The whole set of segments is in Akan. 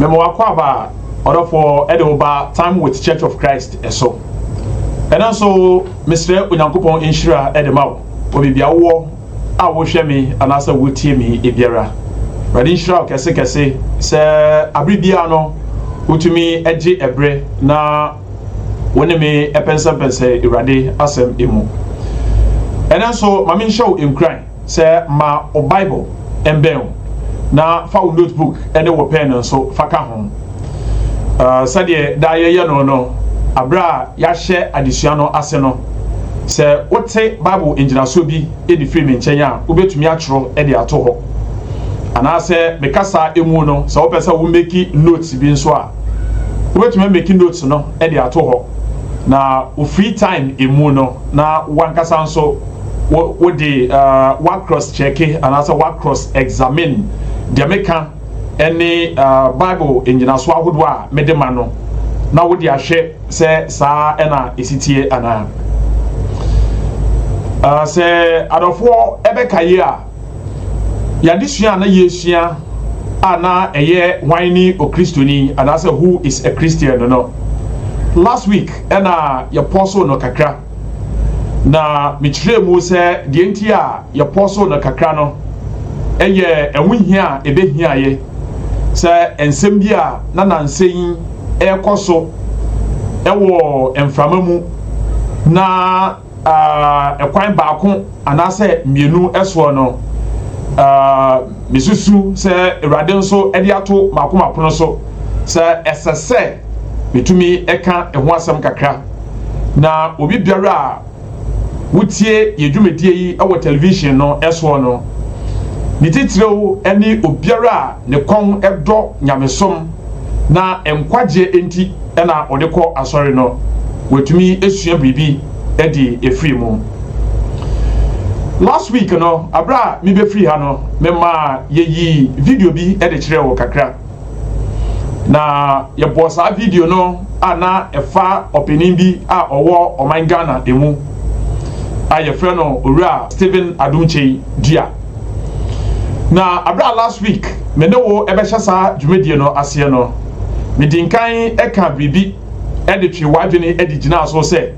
Mema wo akwaaba a ɔdɔfoɔ de wo ba Time With Church of Christ so. Ɛno nso mesrɛ Onyankopɔn nhyira de ma wo wɔ baabi a wowɔ a wohwɛ me anaasɛ wotie me biara. Awurade nhyira wo kɛse kɛse sɛ abere biara no wotumi gye ɛberɛ na wo ne me pɛnsɛmpɛnsɛ Awurade asɛm mu. Ɛno nso ma menhyɛ wo nkuran. Sɛ ma wo Bible mbɛn wo, na fa wo notebook ne wo pɛn nso fa ka ho. Sɛdeɛ daa yɛyɛ no no, berɛ a yɛahyɛ adesua no ase no, sɛ wote Bible ngyinasoɔ bi de firi me nkyɛn a, wobɛtumi atwerɛ de ato hɔ. Anaasɛ me kasa mu no, sɛ wopɛ sɛ wo meki notes bi nso a, wobɛtumi ameki notes no de ato hɔ. Na wo free time mu no, na wankasa nso, wo de uh, wa cross check anaasɛ wa cross examine deɛ meka ɛne uh, bible nnyinaso ahodoɔ a mede ma no na wode ahwɛ sɛ saa ɛna ɛsitie anaa uh, sɛ adɔfoɔ ɛbɛka yi a yɛadesua a na yɛsua a na ɛyɛ hwan ne okristoni anaasɛ who is a christian no no last week ɛna yɛpɔ so no kakra Na mekyerɛɛ mu sɛ deɛ nti a yɛpɔsoo no kakra no yɛ ɛho hia a ɛbɛhiaeɛ sɛ nsɛm bi a na nansa yi ɛrekɔ so wɔ mframa mu na ɛkwan baako anaasɛ mmienu soɔ no mesusu sɛ Awurade nso de ato maako mapono so sɛ ɛsɛ sɛ metumi ɛka ɛho asɛm kakra. Na obi biara a wotie yɛ dwumadie yi wɔ television no soɔ no, ne titiriw ne obiara a ne kɔn dɔ nyamesom na nkwagyeɛ enti na ɔde kɔ asɔre no, watumi asua biribi de afiri mu. Last week no, berɛ a mebɛfiri ha no, memaa yɛyii video bi de kyerɛɛ wo kakra. na yɛbɔɔ saa video no a na ɛfa ɔpanin bi a ɔwɔ ɔman ghana mu a yɛfrɛ no owura stephen adomkyei dua na abere a last week me ne wo ɛbɛhyɛ saa dwumadie no aseɛ no medi nkan ɛka biribi ɛde twe w'adwene ɛde gyinaa so sɛ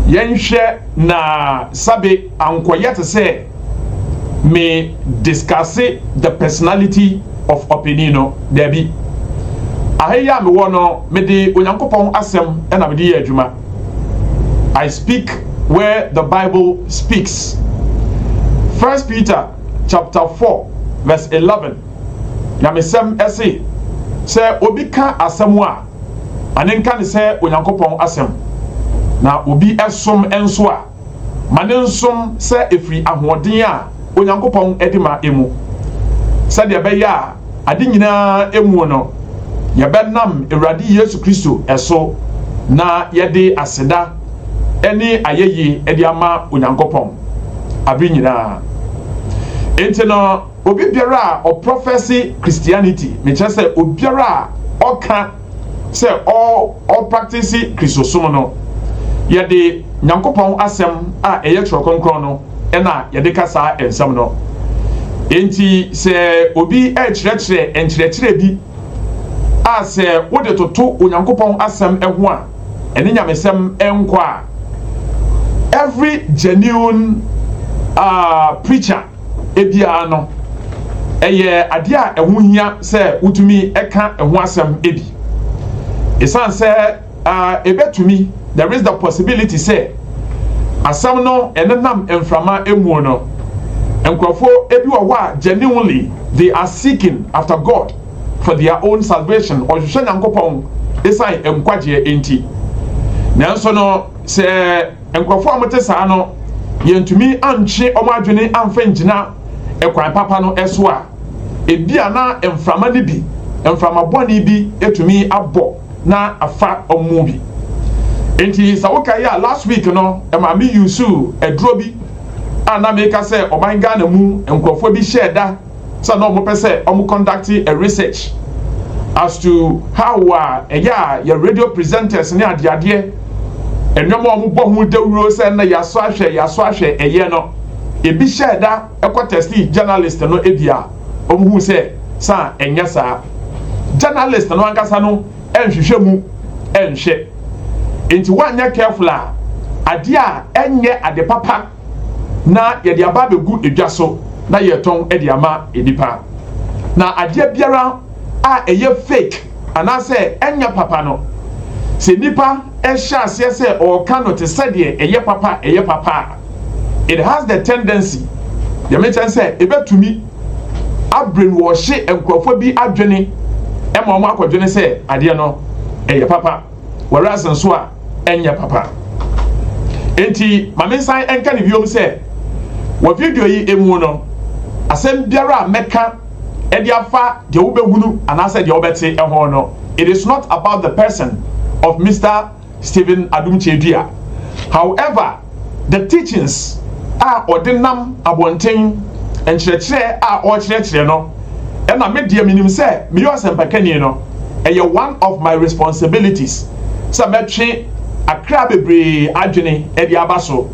yɛnhwɛ na sabe ankɔyɛ te sɛ me discusse the personality of ɔpanin no daabi aha yi a mewɔ no mede onyankopɔn asɛm na mede yɛ adwuma i speak where the bible speaks first peter chapter 4 verse 11 nyamesɛm ɛse sɛ obi ka asɛm a ane nka ne sɛ onyankopɔn asɛm na obi ɛsom nso a Ma ne nsom sɛ efiri ahoɔden a Onyankopɔn de ma mu, sɛdeɛ ɛbɛyɛ a ade nyina ara muo no yɛbɛnam Awurade Yesu Kristo so na yɛde aseda ne ayɛyie de ama Onyankopɔn abere nyina ara. Enti no obi biara a ɔprɔfɛse Christianity, mekyerɛ sɛ obiara a ɔka, sɛ ɔrepraktese Kristosom no, yɛde Nyankopɔn Asɛm a ɛyɛ Twerɛ Kronkron no na yɛde ka saa nsɛm no. Enti sɛ obi rekyerɛkyerɛ nkyerɛkyerɛ bi a sɛ wode toto Onyankopɔn Asɛm ho a ɛne nyamesɛm nkɔ a, every genuine uh, preacher biara no, ɛyɛ adeɛ a ɛho hia sɛ wotumi ka ɛho asɛm bi. Ɛsiane sɛ ɛbɛtumi, there is the possibility sɛ asɛm no ɛnenam mframa mu no, nkurɔfoɔ bi wɔ hɔ a genuinely they are seeking after God for their own salvation, ɔhwehwɛ Nyankopɔn ɛsiane nkwagyeɛ nti. Nanso no sɛ Nkurɔfo a wɔte saa no, yɛantumi antwe wɔn adwene amfa angyina kwan papa no so a ebia na mframa no bi, mframa bɔne bi atumi abɔ na afa wɔn mu bi. Enti sɛ wokae a, last week no, maame usuu aduro bi a na meka sɛ ɔman Ghana mu nkurɔfoɔ bi hyɛɛ da sɛ na wɔpɛ sɛ wɔn conduct a research as to how a ɛyɛ a yɛ radio presenters ne adeadeɛ nneɛma a wɔbɔ ho dawuro sɛ na yɛasɔ ahwɛ yɛasɔ ahwɛ ɛyɛ no ebi hyɛɛ da ɛkɔ tɛstee journalist no ebi a wɔn hu sɛ sa ɛnyɛ saa journalist no ankasa no ɛnhwehwɛ mu ɛnhwɛ nti wɔanyɛ careful a adeɛ a ɛnyɛ ade papa. na yɛde aba abɛgu dwa so na yɛretɔn de ama nnipa. Na adeɛ biara a ɛyɛ fake anaasɛ ɛnyɛ papa no, sɛ nnipa hyɛ aseɛ sɛ ɔreka no te sɛ deɛ ɛyɛ papa ɛyɛ papa a, it has the tendency, deɛ mekyɛn sɛ ɛbɛtumi abrainwɔhye nkurɔfoɔ bi adwene ma wɔn akɔdwene sɛ adeɛ no ɛyɛ papa. w'awiase nso a ɛnyɛ papa. Enti ma me nsan nka no biom sɛ, wɔ video yi mu no, asɛm biara a mɛka de afa deɛ wobɛhunu anaasɛ deɛ wobɛte ho no, it is not about the person of Mister Stephen Adum Kyedua. However, The Teachings a ɔde nam abɔnten, nkyerɛkyerɛ a ɔrekyerɛkyerɛ no, ɛna me deɛ menim sɛ meyɛ ɔsɛmpakani no, ɛyɛ one of my responsibilities sɛ mɛtwe akra bebree adwene de aba so.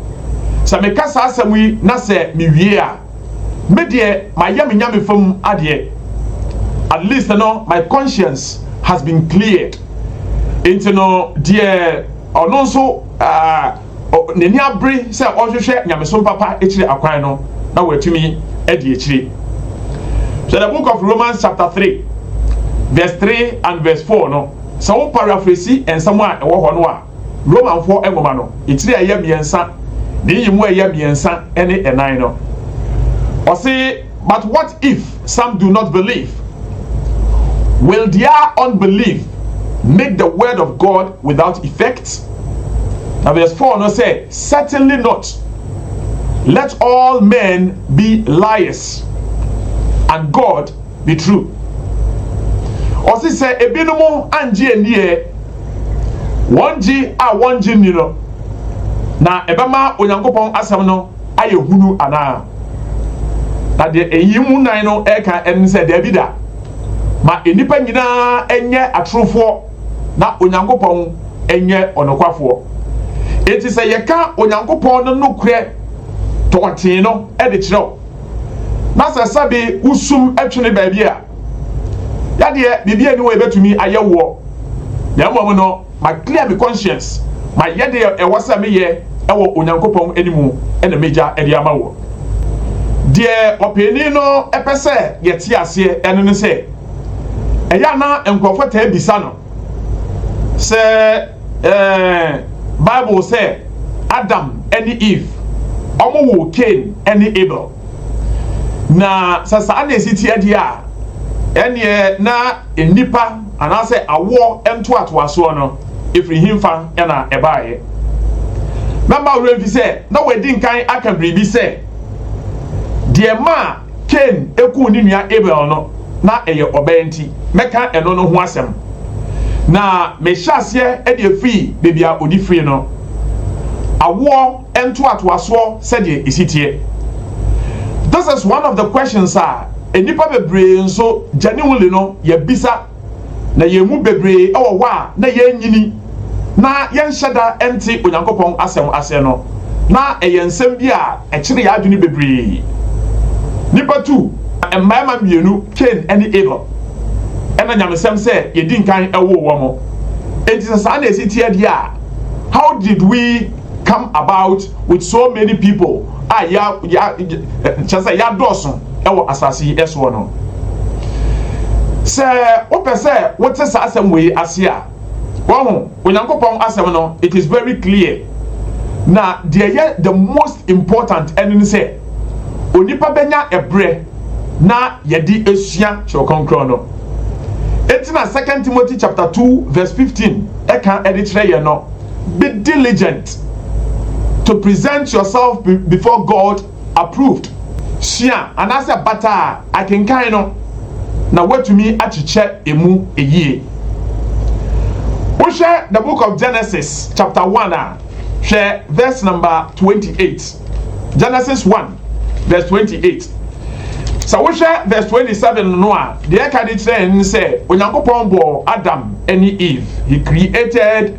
Sɛ meka saa asɛm yi na sɛ mewie a, Me deɛ mayɛ me Nyame fam adeɛ at least no my conscience has been cleared nti no deɛ ɔno nso uh, n'ani abere sɛ ɔhwehwɛ nyamesom papa akyire akwan no na wɔatumi adi akyire so the book of Romans chapter 3 verse 3 and verse 4 no sɛ wo paraphrase nsɛm a ɛwɔ hɔ no a Romanfoɔ nwoma no etire a ɛyɛ mmiɛnsa ne nyimu a ɛyɛ mmiɛnsa ne ɛnan no. Ɔse, But what if some do not believe? Will their unbelief make the word of God without effect? Na verse 4 no sɛ, Certainly not. Let all men be liars, and God Ne tru. Ɔse sɛ ebinom anngye anni ɛ, wɔn gye a wɔnngye nni no, na ɛbɛma Onyankopɔn asɛm no ayɛ hunu anaa? Na deɛ nyiyimu nnan no reka ne sɛ, Daabi da! Ma nnipa nyinaa nyɛ atorofoɔ na Onyankopɔn nyɛ ɔnokwafoɔ. Enti sɛ yɛka Onyankopɔn no nokorɛ tɔɔtee no de kyerɛ wo, na sɛ sɛbe wo sum twene baabi a, yadeɛ biribi ani wɔ ebɛtumi ayɛ woɔ, na mmom no ma clear me conscience, ma yɛ deɛ ɛwɔ sɛ me yɛ wɔ Onyankopɔn animu na me gya de ama woɔ. Deɛ ɔpɛɛni no pɛ sɛ yɛte aseɛ ɛno ne sɛ, ɛyɛ a na nkorɔfoɔ taa bisa no, sɛ ɛɛ bible sɛ adam ne eve wɔn woo cain ne abel na sɛ saa na esi ti adi a ɛneɛ na nnipa anaasɛ awoɔ ntoatoasoɔ no efiri hemfa na ɛbaeɛ na mma werɛ mfi sɛ na wɔadi nkan aka biribi sɛ deɛ maa Kain kuu ne nua Abel no, na ɛyɛ ɔbɛ nti. Mɛka ɛno no ho asɛm. Na mehyɛ aseɛ de afiri baabi a ɔde firii no, awoɔ ntoatoasoɔ sɛdeɛ ɛsi teɛ. This is one of the questions a nnipa bebree nso genuinely no yɛbisa. Na yɛn mu bebree wɔ hɔ a na yɛnnyini na yɛnhyɛ da nte Onyankopɔn Asɛm ase no, na ɛyɛ nsɛm bi a ɛkyere yɛn adwene bebree. Nnipa tu mmarima mmienu, Kain ne Abel, na nyamesɛm sɛ yɛdi nkan woo wɔn. Enti sɛ saa na ɛsi teɛ deɛ a, how did we come about with so many people a yɛa, yɛa, kyerɛ sɛ yɛadɔɔso? wɔ asase yi soɔ no. Sɛ wopɛ sɛ wote saa asɛm wei ase a, wahu, Onyankopɔn asɛm no, it is very clear. Na deɛ ɛyɛ the most important ɛno ne sɛ, onipa bɛnya ɛberɛ na yɛde asua Twerɛ Kronkron no. Enti na Second Timothy chapter 2 verse 15 ɛka ɛde kyerɛ yɛn no, Be diligent to present yourself before God Approved, Sua anaasɛ bata a akenkan no na woatumi akyekyɛ emu yie. Wohwɛ The Book of Genesis chapter one a, hwɛ verse number twenty eight. Genesis one verse twenty eight. Sɛ wohwɛ verse twenty seven no a, deɛ ɛka de kyerɛ yɛn ne sɛ Onyankopɔn bɔɔ Adam ne Eve. He created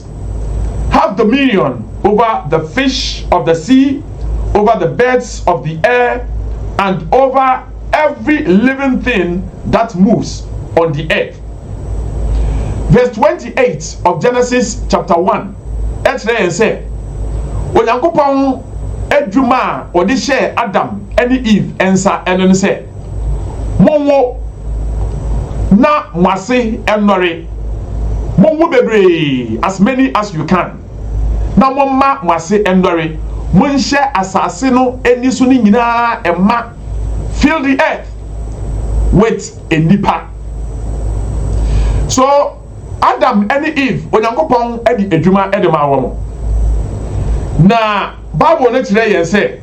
Have dominion over the fish of the sea, over the birds of the air, and over every living thing that moves on the earth. Verse 28 of Genesis chapter 1 kyerɛ yɛn sɛ Onyankopɔn adwuma a ɔde hyɛɛ Adam ne Eve nsa no ne sɛ, Monwo, na mo ase nnɔre, monwo bebree, as many as you can, na momma mo ase nnɔre, monhyɛ asase no ani so no nyinaa mma, fill the earth with nnipa. So, Adam ne Eve, Onyankopɔn de adwuma de maa wɔn. Na Bible no kyerɛ yɛn sɛ,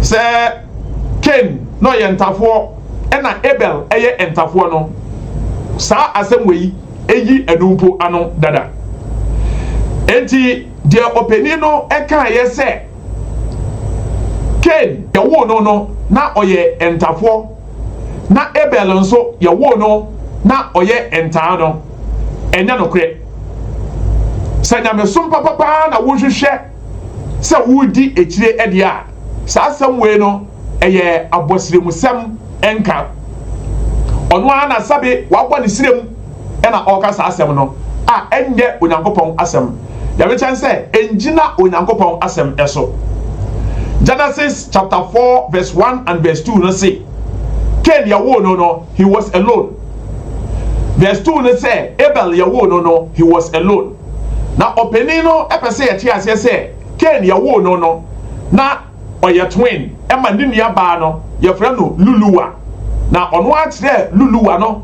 Sɛ Kain na ɔyɛ ntafoɔ ɛna Abel ɛyɛ ntafoɔ no, saa asɛm wei ɛyi ɛno mpo ano dada. Enti deɛ ɔpanin no ɛkaeɛ sɛ Kain yɛwoo no no na ɔyɛ ntafoɔ na Abel nso yɛwoo no na ɔyɛ ntaa no, ɛnyɛ nokorɛ. Sɛ nyamesom papa paa na wohwehwɛ sɛ woredi akyire deɛ a, saa asɛm wei no, ɛyɛ abɔsrɛmusɛm nka. Ɔno ara na sɛbe wabɔ ne srɛ mu na ɔreka saa asɛm no, a ɛnyɛ Onyankopɔn asɛm. Deɛ mekyɛn sɛ, ɛngyina Onyankopɔn asɛm so. Genesis chapter four verse one and verse two no se, Kain yɛwoo no no, he was alone. Verse two no sɛ, Abel yɛwoo no no, he was alone. Na ɔpanin no pɛ sɛ yɛte aseɛ sɛ Cain yɛwoo no no na ɔyɛ twin ma ne nua baa no yɛfrɛ no Luluwa na ɔno ara kyerɛɛ Luluwa no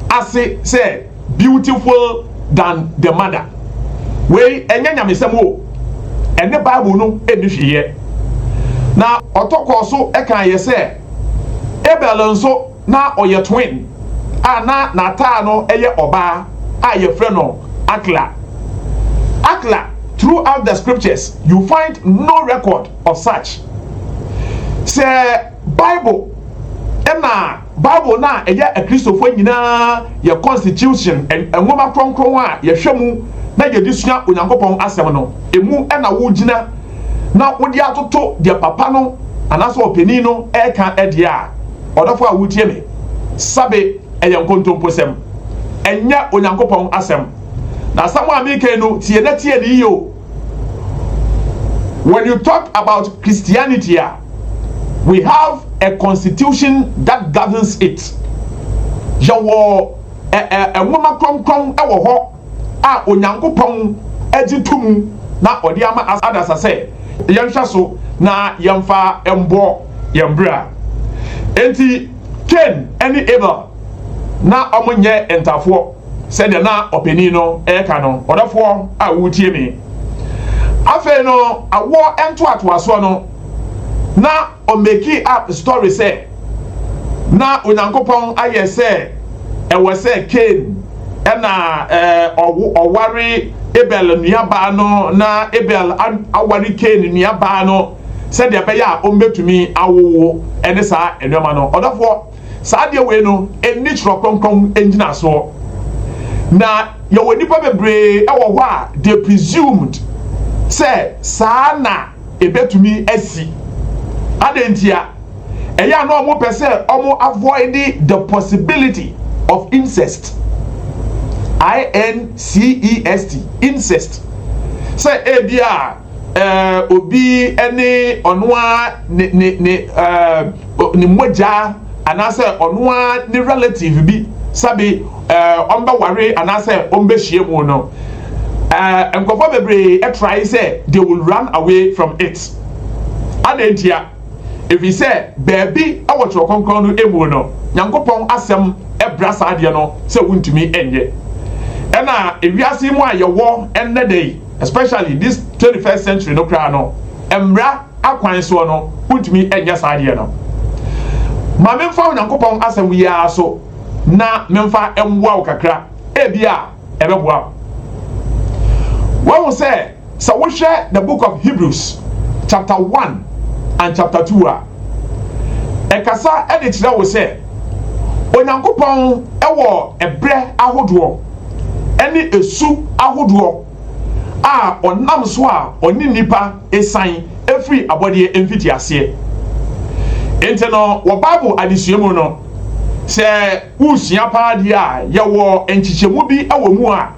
ase sɛ beautiful than the mother wei ɛnyɛ nyamesɛm o ɛne bible no ɛnni hwee yɛ na ɔtɔ kɔɔ so kaeɛ sɛ Abel nso Na ɔyɛ twin a na n'ataa no yɛ ɔbaa a yɛfrɛ no Akla. Akla, throughout the scriptures you find no record of such. Sɛ Bible na Bible no a ɛyɛ Akristofoɔ nyinaa yɛ constitution, nwoma kronkron a yɛhwɛ mu na yɛde sua Onyankopɔn asɛm no, ɛmu na wogyina, na wode atoto deɛ papa no anaasɛ ɔpanin no reka deɛ a, ɔdɔfo a wotie me, sabe ɛyɛ nkontomposɛm. Ɛnyɛ Onyankopɔn asɛm. Na asɛm a meka yi no, tie na tie no yiye o. When you talk about Christianity a, we have a constitution that governs it. Yɛwɔ ɛ ɛ nwoma kronkron wɔ hɔ. a Onyankopɔn gye to mu na ɔde ama adasa sɛ yɛnhwɛ so na yɛmfa mmɔ yɛn bra. Enti, Kain ne Abel na wɔnyɛ ntafoɔ, sɛdeɛ na ɔpanin no reka no, ɔdɔfoɔ a woretie me. Afei no, awoɔ ntoatoasoɔ no, na. Ɔ meki up story sɛ na Onyankopɔn ayɛ sɛ ɛwɔ sɛ Cain na ɔware Abel nuabaa no na Abel aware Cain nuabaa no sɛdeɛ ɛbɛyɛ a wɔbɛtumi awowo ne saa nnoɔma no. Ɔdɔfoɔ, saa adeɛ wei no nni Twerɛ Kronkron ngyinasoɔ. Na yɛwɔ nnipa bebree wɔ hɔ a they presumed sɛ saa na. Ebetumi asi. Adɛn ntia? Ɛyɛ a na wɔpɛ sɛ wɔn avoid the possibility of incest. I-N-C-E-S-T, incest. Sɛ ebi a eh, obi ne ɔno ara ne ne ne eh, ne mogya anaasɛ ɔno ara ne relative bi sɛbe ɔmbɛware anaasɛ ɔmbɛhyia mu no, nkorɔfoɔ bebree try sɛ they will run away from it. Adɛn ntia? Ɛfiri sɛ baabi wɔ Twerɛ Kronkron no mu no, Nyankopɔn Asɛm bra saa adeɛ no sɛ wontumi nyɛ. Ɛna wiase yi mu a yɛwɔ nnɛ da yi, especially this 21st century no koraa no, mmara akwan soɔ no, wontumi nyɛ saa adeɛ no. Ma memfa Onyankopɔn asɛm yi ara so na memfa mmoa wo kakra, ebia ɛbɛboa wo. Woahu sɛ, sɛ wohwɛ The Book of Hebrews chapter one and chapter two a, ɛkasa de kyerɛ wo sɛ Onyankopɔn wɔ ɛberɛ ahodoɔ ne ɛsu ahodoɔ. a ɔnam so a ɔne nnipa san firi abɔdeɛ mfitiaseɛ. Nti no wɔ Bible adesua mu no, sɛ woresua paa deɛ a, yɛwɔ nkyekyɛmu bi wɔ mu a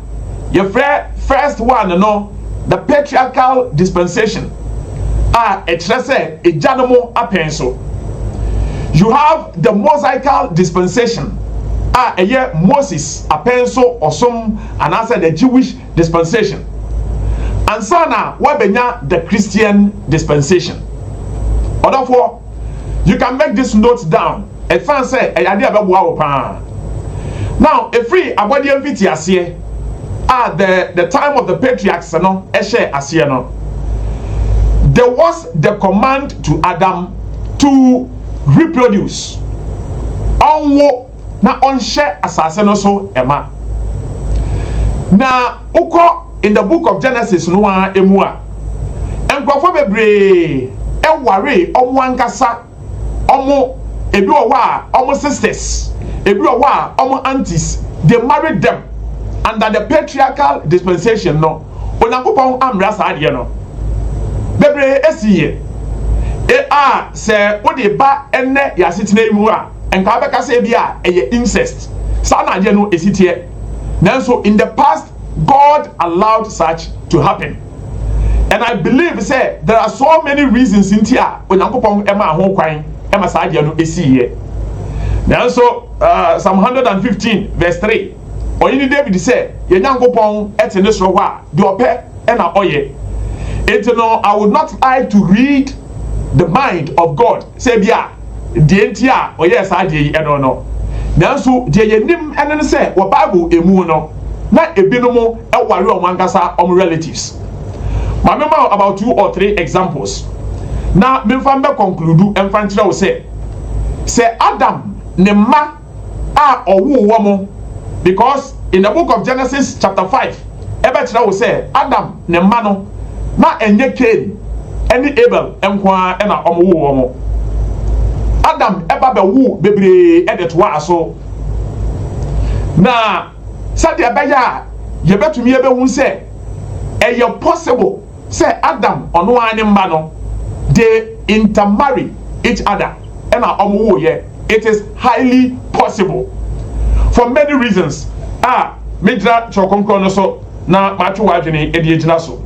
yɛfrɛ first one no The Patriarchal Dispensation a ɛkyerɛ sɛ agyanom apɛn so. You have the Mosaical Dispensation a ɛyɛ Moses apɛn so ɔsom anaasɛ the Jewish dispensation, ansa na woabɛnya the Christian dispensation. Ɔdɔfoɔ, you can make this note down, ɛsiane sɛ ɛyɛ adeɛ a ɛbɛboa wo pa ara. Now, ɛfiri abɔdeɛ mfitiaseɛ a the the time of the patriarchs no ɛhyɛɛ aseɛ no, there was the command to Adam to reproduce, ɔnwo, na ɔnhyɛ asase no so ma. Na wokɔ in the book of Genesis no ara mu a, nkurɔfoɔ bebree waree wɔn ankasa wɔn, ebi wɔ hɔ a wɔn sisters, ebi wɔ hɔ a wɔn aunties, they married them. Under the patriarchal dispensation no, Onyankopɔn ammra saa adeɛ no. Bebree siiɛ. E a sɛ wode ba ɛnnɛ yɛn asetena yi mu a, nka wobɛka sɛ ebia ɛyɛ incest saa na adeɛ no ɛsi teɛ nanso in the past God allowed such to happen and I believe sɛ there are so many reasons nti a Onyankopɔn ɛmaa ho kwan ɛma saa adeɛ no ɛsiiɛ nanso uh, Psalm 115 verse 3 ɔyene David sɛ yɛn Nyankopɔn ɛte ne soro hɔ a deɛ ɔpɛ ɛna ɔyɛ nti no I would not like to read the mind of God sɛ bia deɛ nti a ɔyɛɛ saa adeɛ yi ɛno no. Nanso deɛ yɛnim ɛne ne sɛ wɔ Bible ɛmu no na ɛbinom ɛware wɔn ankasa wɔn relatives. Ma me ma wo about two or three examples na memfa mbɛ conclude ɛmfa nkyerɛ wo sɛ, sɛ Adam ne mma, a ɔwoo wɔn because in the book of Genesis chapter five ɛbɛkyerɛ wo sɛ Adam ne mma no na ɛnyɛ Cain ɛne Abel nko ara ɛna wɔn woo wɔn Adam ɛba bɛwoo bebree ɛde toa aso na sɛdeɛ ɛbɛyɛ a yɛbɛtumi ɛbɛhu sɛ ɛyɛ possible Sɛ Adam ɔno ara ne mma no they intermarry each other ɛna ɔmo woo yɛ it is highly possible for many reasons a me gyina twerɛ kronkron no so na matwe w'adwene de agyina so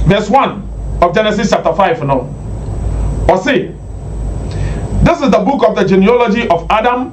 verse one of Genesis chapter five no ɔse this is the book of the genealogy of Adam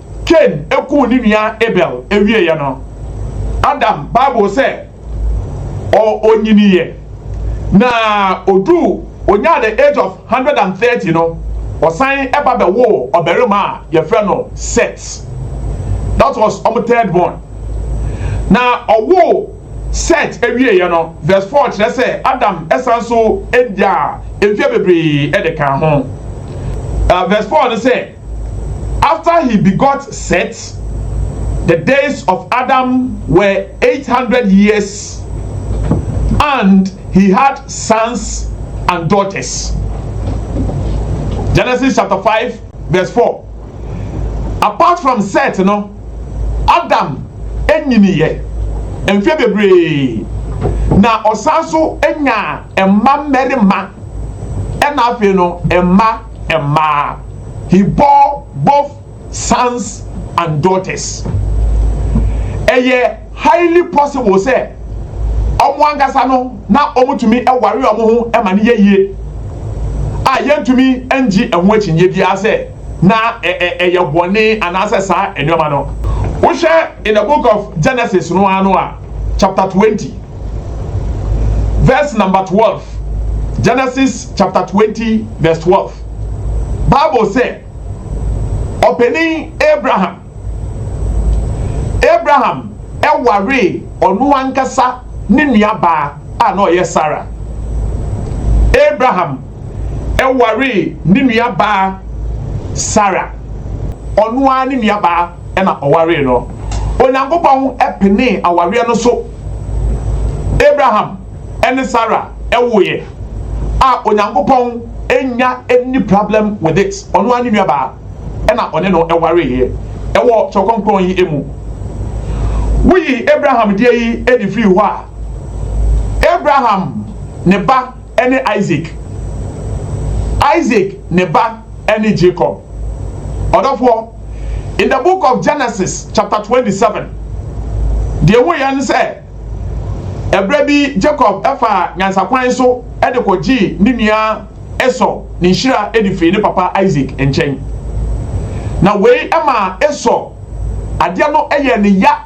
Kain kum ne nua Abel wieeɛ no, Adam, Bible sɛ ɔ, ɔnyiniiɛ, na ɔduu, ɔnyaa the age of hundred and thirty no, ɔsan ba bɛwoo ɔbarima a yɛfrɛ no Set. That was wɔn third born. Na ɔwoo Set wieeɛ no, verse four kyerɛ sɛ Adam san so nyaa mfeɛ bebree de kaa ho. Uh, verse four no sɛ. After he begot Set, the days of Adam were eight hundred years, and he had sons and daughters. Genesis chapter five verse four. Apart from Set no, Adam nyiniiɛ mfeɛ bebree, na ɔsan nso nyaa mma mmarima ɛna afei no mma. mmaa. He bore both sons and daughters. Ɛyɛ highly possible sɛ wɔn ankasa no na wɔtumi ware wɔn ho ma no yɛ yie a yɛntumi ngye ɛho akyinnye biara sɛ na ɛyɛ bɔne anaasɛ saa nneɛma no. Wohwɛ in the book of Genesis no ara no a. chapter twenty verse number twelve Genesis chapter twenty verse twelve Bible sɛ ɔpanin Abraham Abraham ɛwaree ɔno ankasa ne nuabaa a na ɔyɛ Sarah Abraham ɛwaree ne nuabaa Sarah ɔno ara ne nuabaa. na ɔwaree no. Onyankopɔn penee awareɛ no so. Abraham ne Sara woeɛ a Onyankopɔn nnya nni problem with it. Ɔno ara ne nuabaa na ɔne no wareeɛ wɔ Kyerɛw Kronkron yi mu. Woyi Abraham deɛ yi de firi hɔ a, Abraham ne ba ne Isaac, Isaac ne ba ne Jacob. Ɔdɔfoɔ. In the book of Genesis chapter 27, deɛ ɛwɔ yɛ ne sɛ, ɛberɛ bi Jacob ɛfaa nyansakwan so de kɔgyee ne nua Esau ne nhyira de firii ne papa Isaac nkyɛn. Na wei ɛmaa Esau adeɛ no ɛyɛɛ ne ya.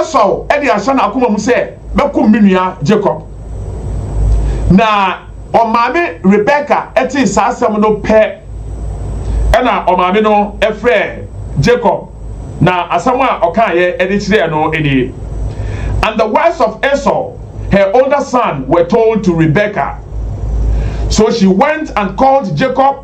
Esau de ahyɛ n'akoma mu sɛ bɛkum me nua Jacob. Na ɔmaame Rebeka tee saa asɛm no pɛ ɛna ɔmaame no frɛɛ Jacob na asɛm a ɔkaeɛ de kyerɛɛ no nie. And the wives of Esau, her older son, were told to Rebeka. So she went and called Jacob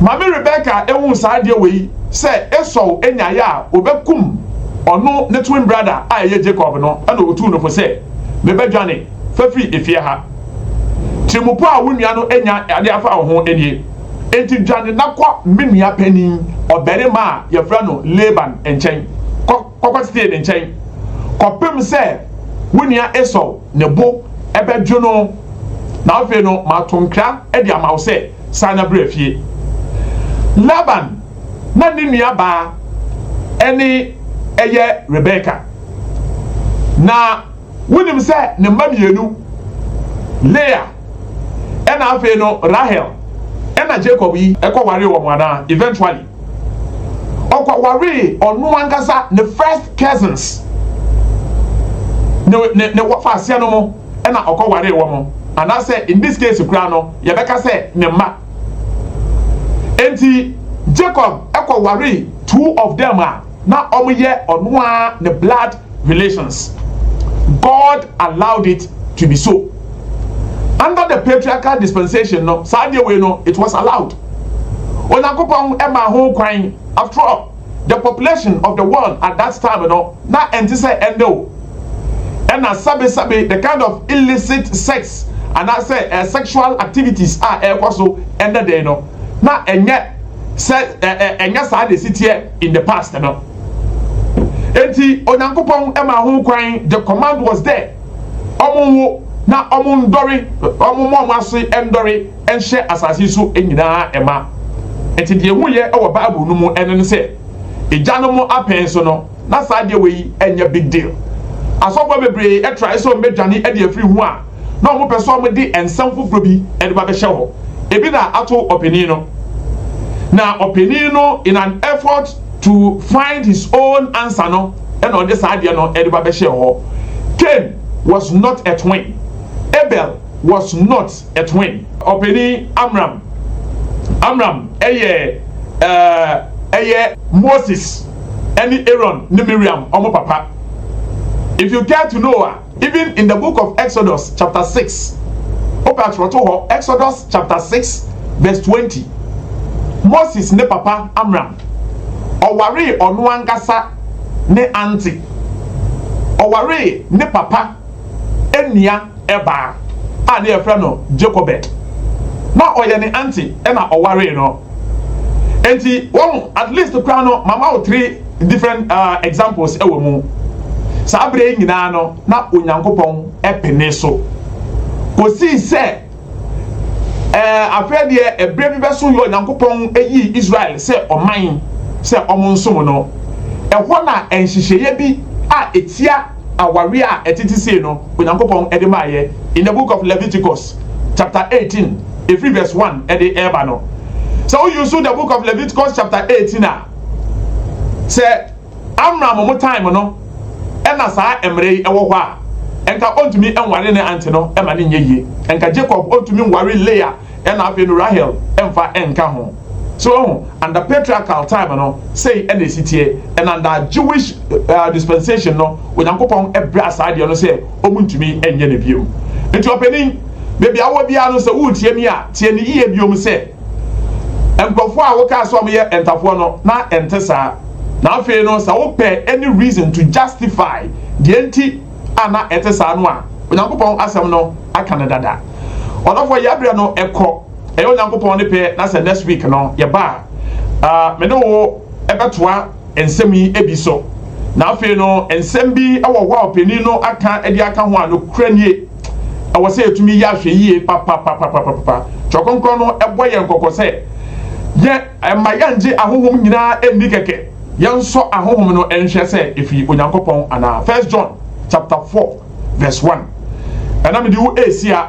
Maame Rebecca ehu saa adeɛ wei sɛ Esau nyaeɛ a ɔbɛkum ɔno ne twin brother a ɛyɛ Jacob no na ɔtuu no fo sɛ, Mebɛdwane, fa firi efie ha. Tirimupɔ a wo nua no anya de afa wo ho nie. Enti dwane na kɔ me nua panin ɔbarima a wɔfrɛ no Laban nkyɛn kɔ. kɔkɔtetee ne nkyɛn kɔpem sɛ wo nua Esau ne bo bɛdwo no, na afei no mato nkra de ama wo sɛ, San na bra fie. Laban na ne nuabaa ne yɛ Rebeka. Na wonim sɛ ne mma mmienu, Lea na afei no Rahel na Jacob yi kɔwaree wɔn anaa? Eventually. ɔkɔwaree ɔno ankasa ne first cousins ne ne ne wɔfa aseɛ no mo ɛna ɔkɔwaree wɔn mo anaasɛ in this case koraa no yɛbɛka sɛ ne mma enti Jacob ɛkɔwaree two of them a na wɔn yɛ ɔno a ne blood relations. God allowed it to be so. Under the patriarchal dispensation no, saa adeɛ wei no, it was allowed. Onyankopɔn ɛmaa ho kwan. After all, the population of the world at that time no, na ɛnte sɛ ɛndɛ o. Ɛna sabi sabi the kind of illicit sex anaasɛ uh, sexual activities a ɛrekɔ so ɛndɛ dɛn no, na ɛnyɛ sɛ ɛnyɛ saa de si teɛ. in the past no. Enti Onyankopɔn maa ho kwan, the command was there, ɔmo nwo na ɔmo ndɔre, ɔmo mma ɔmo ase ndɔre nhyɛ asase yi so nyinaa mma. Enti deɛ yɛhuiɛ wɔ Bible no mu ɛno ne sɛ, agyanom apɛn so no, na saa adeɛ wei nyɛ big deal. Asɔfoɔ bebree trae sɛ wɔbɛdwane de afiri ho a, na wɔpɛ sɛ wɔde nsɛm foforɔ bi de ba bɛhyɛ hɔ. Ebi na ato ɔpanin no. Na ɔpanin no in an effort to find his own answer no na ɔde saa adeɛ no de ba bɛhyɛɛ hɔ. Cain was not a twin. Abel was not a twin. Ɔpanin Amram, Amram yɛ eh, ɛyɛ Moses ne Aaron ne Miriam wɔn papa. If you care to know a. Even in the book of Exodus chapter six, wopɛ atwerɛtohɔ, Exodus chapter six verse twenty, Moses ne papa Amram, ɔwaree ɔno ankasa ne aunty, ɔwaree ne papa nua baa a ne yɛfrɛ no Jochebed, na ɔyɛ ne aunty na ɔwaree no. Enti, wahu, at least koraa no, mama wo three. different uh, examples wɔ mu saa berɛ nyinaa no na onyankopɔn pene so kɔsii sɛ eh, afei deɛ ɛberɛ bi bɛso yɛ onyankopɔn yii israel sɛ ɔman sɛ ɔmo nsom no ɛhɔ na nhyehyɛeɛ bi a ɛtia awareɛ a ɛtete sei no onyankopɔn de maayɛ in the book of leviticus chapter 18 ɛfiri verse 1 ɛde ɛreba no sɛ woyusu the book of leviticus chapter 18 a Sɛ Amram mu time no na saa mmere yi wɔ hɔ a, nka ontumi nware ne ante no ma ne nyɛ yie. Nka Jacob ontumi nware Leah na afei no Rahel mfa nka ho. So wahu? Under patriarchal time no, sei na esi teɛ. And under Jewish uh, dispensation no, Onyankopɔn braa saa deɛ no sɛ wɔn ntumi nyɛ no biom. Nti ɔpanin, baabi a wɔ biara no sɛ woretie mi a, tie ne yie biom sɛ, nkurɔfoɔ a wokaa sɛ wɔyɛ ntafoɔ no na ɛnte saa na afei no sɛ wopɛ any reason to justify deɛ nti a na ɛte saa no a onyankopɔn asɛm no aka no dada ɔdɔfoɔ yɛabrɛ no ɛkɔ ɛyɛ onyankopɔn ne pɛ na sɛ next week no yɛba a uh, me ne wo ɛbɛtoa nsɛm yi bi so. Na afei no, nsɛm bi wɔ hɔ a ɔpanin no aka de aka ho a nokorɛ nie. Ɛwɔ sɛ yɛtumi yɛ ahwɛyie papapapapapa. Twerɛ Kronkron no bɔ yɛn kɔkɔ sɛ, yɛ mma yɛnngye ahonhom nyinaa nni kɛkɛ. Yɛnsɔ ahonhom no nhwɛ sɛ ɛfiri Onyankopɔn anaa. First John chapter four verse one, Ɛna mede wo rehyia.